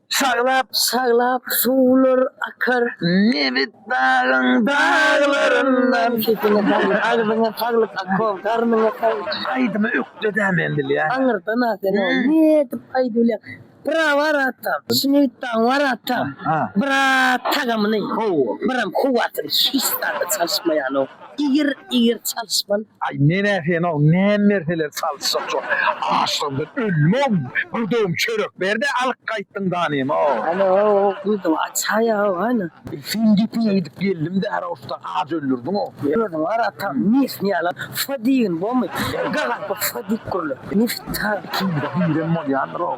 Şaglap şaglap suwlar akar nebit dagyň daglaryndan. Sesiňe saglyk agzyňa saglyk Akko garnyňa saglyk. Aýdymy ökdedä men bilýän. Aňyrdan a sen ol nädip aýdyp bilýäň bra bar atam şinebit dagyň bar atam bra tagamyny howwa bram howwasyny hiç zada çalyşmaýanok. Igir igir çalyşman. Aý menä senok näm berseler çalyşjak şol açlygymdan ölmogm bir dogum çörek berde alyp gaýtdyň danemok. Ana ow gyzym aç haýa ow ana. Sen gepiňe gidip geldim dara usta aç öldürdiň ow. Özüň gara ta mis ýaly fy diýgin bomy gagalp fy diýip gürle. Nefit ta. Kimde birem bolýandyr ow.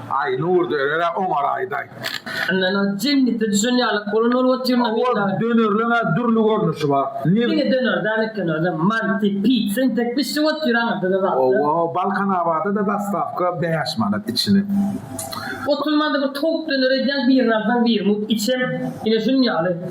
Aý nur derere oňaraýdaý. Yndan ol jennete düşen ýalak bolan ol ot ýerine meýil dagy. Ol dönerleň-ä dürli görnüşi bar. Diňe döner däl eken ol-da. Manti, pit, sentek bişşik ot ýeri aňyrda-da bar. Owo, Balkanabada-da dostawka bäş manat içine. Oturmanda bir towuk döner edýäň, birini alsaň bir mut içem. Ine şunuň ýaly.